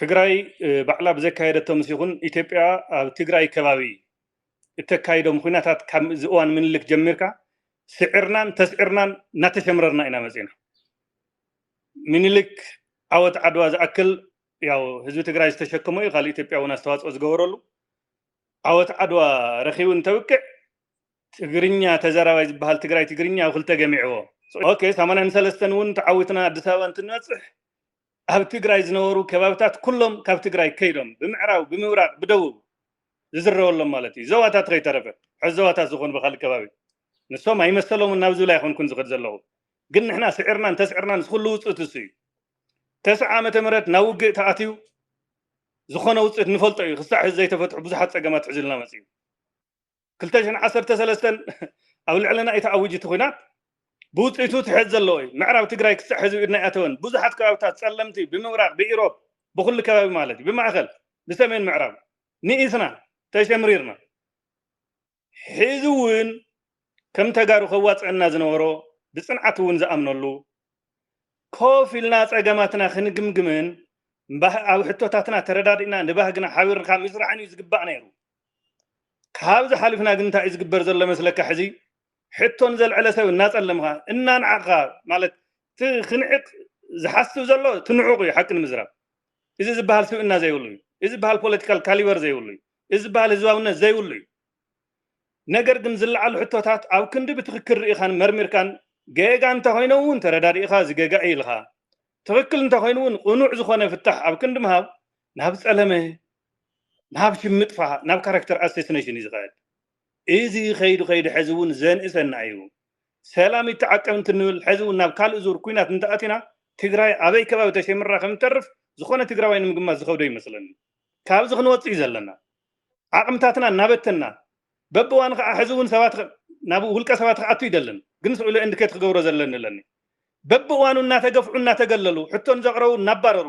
ትግራይ ባዕላ ብዘካየደቶ ምስ ይኹን ኢትዮጵያ ኣብ ትግራይ ከባቢ እተካይዶም ኹናታት ካብ እዚ እዋን ምንልክ ጀሚርካ ስዕርናን ተስዕርናን እናተሸምረርና ኢና መፂና። ምኒልክ ዓወት ዓድዋ ዝኣክል ያው ህዝቢ ትግራይ ዝተሸከሞ እዩ ካልእ ኢትዮጵያ እውን ኣስተዋፅኦ ዝገበረሉ ዓወት ዓድዋ ረኪቡ እንተብቅዕ ትግርኛ ተዘራባይ ዝበሃል ትግራይ ትግርኛ ኣብ ክልተ ገሚዕዎ ኦኬ ሰማንያን ሰለስተን እውን ተዓዊትና ኣዲስ ኣበባ እንትንበፅሕ ኣብ ትግራይ ዝነበሩ ከባብታት ኩሎም ካብ ትግራይ ከይዶም ብምዕራብ ብምብራቅ ብደቡብ ዝዝረበሎም ማለት እዩ ዞባታት ከይተረፈ ሕዚ ዞባታት ዝኾኑ ብካልእ ከባቢ ንሶም ኣይመሰሎምን ናብ ዝብል ኣይኮንኩን ዝኸድ ዘለኹ ግን ንሕና ስዒርናን ተስዕርናን ዝኹሉ ውፅእት እሱ እዩ ተስዓ ዓመተ ምህረት ናብ ውግእ ተኣትዩ ዝኾነ ውፅእት ንፈልጦ እዩ ክሳዕ ሕዚ ዘይተፈትሑ ብዙሓት ፀገማት ሒዙልና መፂኡ። ክልተ ሽሕን ዓሰርተ ሰለስተን ኣብ ልዕለና እዩ ተኣዊጁ እቲ ኩናት ብውፅኢቱ ትሕት ዘለዎ እዩ ምዕራብ ትግራይ ክሳዕ ሕዚ ኢድና ኣይኣተወን ብዙሓት ከባቢታት ፀለምቲ ብምብራቅ ብኢሮብ ብኩሉ ከባቢ ማለት እዩ ብማእኸል ብሰሜን ምዕራብ ንኢስና ተሸምሪርና ሕዚ እውን ከም ተጋሩ ከዋፅአና ዝነበሮ ብፅንዓት እውን ዝኣምነሉ ኮፍ ኢልና ፀገማትና ክንግምግምን ኣብ ሕቶታትና ተረዳዲእና ንባህግና ሓቢርካ ምስራሕን እዩ ዝግባእ ነይሩ ካብዚ ሓሊፍና ግን እንታይ እዩ ዝግበር ዘሎ መስለካ ሕዚ ሕቶ ንዘልዕለ ሰብ እናጸለምኻ እናንዓቕኻ ማለት እቲ ክንዕቕ ዝሓስብ ዘሎ እቲ ንዑቕ እዩ ሓቂ ንምዝራብ እዚ ዝበሃል ስብእና ዘይብሉ እዩ እዚ ዝበሃል ፖለቲካል ካሊበር ዘይብሉ እዩ እዚ ዝበሃል ህዝባውነት ዘይብሉ እዩ ነገር ግን ዝለዓሉ ሕቶታት ኣብ ክንዲ ብትኽክል ርኢኻን መርሚርካን ጌጋ እንተኾይነ እውን ተረዳዲእኻ እዚ ጌጋ እዩ ኢልኻ ትኽክል እንተኾይኑ እውን ቅኑዕ ዝኾነ ፍታሕ ኣብ ክንዲ ምሃብ ናብ ጸለመ ንሃፍቲ ምጥፋእ ናብ ካራክተር ኣሰስነሽን እዩ ዝኸድ። እዚ ከይዱ ከይዱ ሐዚ እውን ዘንእሰና እዩ። ሰላም ይተዓቀብ እንትንብል ሐዚ እውን ናብ ካልእ ዙር ኩናት እንተኣቲና ትግራይ ኣበይ ከባቢ ተሸምራ ከምትተርፍ ዝኾነ ትግራዋይ ንምግማት ዝኸብዶ ይመስለኒ። ካብዚ ክንወፅእ እዩ ዘለና። ዓቕምታትና እናበተንና በብእዋኑ ከዓ ሐዚ እውን ሰባት ናብ ውልቀ ሰባት ክኣቱ ይደልን ግን ስዕሉ ኤንድኬት ክገብሮ ዘለኒ እለኒ። በብእዋኑ እናተገፍዑ እናተገለሉ ሕቶ ንዘቕረቡ እናባረሩ